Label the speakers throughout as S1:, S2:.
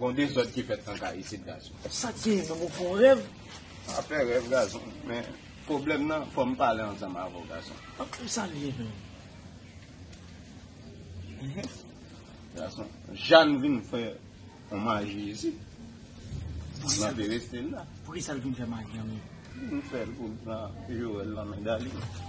S1: Gon dezòd ki fèt nan kay isit gason. Sak gen menm ou
S2: fon rèv. Pa fè rèv
S1: gason men pwoblèm nan fòm pale ansanm avèw gason. Ok sa liye menm. Gason Jane vin fè yon maji isit. Nan perestil la. Poukisa l vin fè maji
S2: an menm. Li vin fèl
S1: poul pran Joel nan men Darline.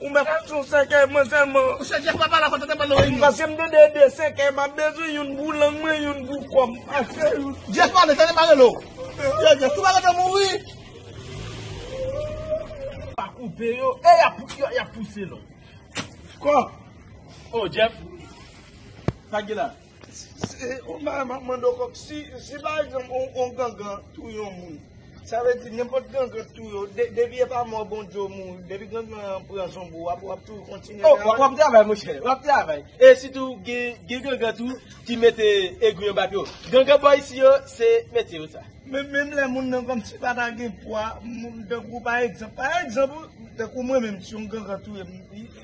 S3: Ou met al sou
S2: sèkèy mwen sèlman. Ou se Jeff papa la fò tètè
S3: pale oreillo. Paske m tande e de
S2: sèkèy map bezwen youn pou lang mwen youn pou kòm. Ase youn. Jeff
S3: pale tande pa rele w. Yo Jeff tou pa rete mouri.
S2: Pa koupe yo. E yap pouse l. Kòk. Oh
S3: Jeff.
S2: Sa ki la. Ou mwen map mande w kòb si si pa egzanp yon gangan touye yon moun sa vle di nenpòt gangan k touye w depi epa mò Bondye w mouri depi gangan an pran zonbi w ap wap toujou kontinye travay? Oh wap travay monchè
S4: wap travay e sitou gen gangan tou ki mete egri anba pye w gangan bò isi yo se metye yo sa. Men menm lè moun nan
S2: kòmsi pa ta gen pwa moun tankou pa egzanp pa egzanp tankou mwen menm si yon gangan touye m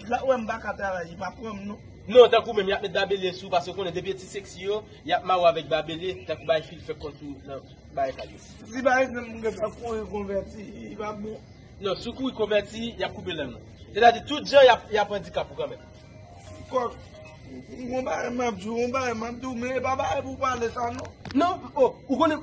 S2: lap wè m pa ka travay li pa pran m non. Non tankou menm yap met
S4: babele sou paske yo konnen depi yo ti sexy yo yap mare w avèk babele tankou bay fil fè kont ou nan bay kadesh. Li pa rete nan
S2: moun kap ap kouri konvèti li pa bon. Non si w kouri
S4: konvèti yap koupe lang ou. Sètadi tout jan yap andikap ou kanmenm. Kòk
S2: Gon bagay map di w Gon bagay map di w men e pa bagay pou w pale sa non. Non oh ou
S4: konnen.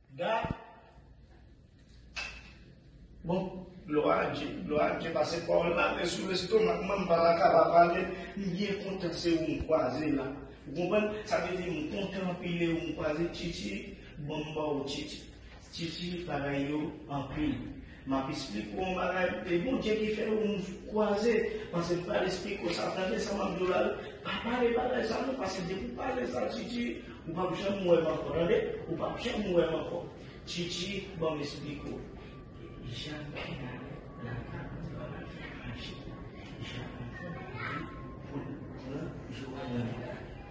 S2: Gad Bon glwa a Dye glwa a Dye pase pawòl la men sou lestomak mwen m pa ta ka pa pale m byen kontan se ou m kwaze la ou konprann sa vle di m kontan anpil e ou m kwaze Titi bon m ba w Titi Titi bagay yo anpil Map esplik ou yon bagay e bondye ki fè ou nou kwaze pase pral esplik ou sa tande sa map diw la pa pale bagay sa non pase depi ou pale sa titi ou pap janm wèm ankò tande ou pap janm wèm ankò titi banm esplik ou jan kena la kap travay fè maji jan anfè maji poul pran joana nan kay.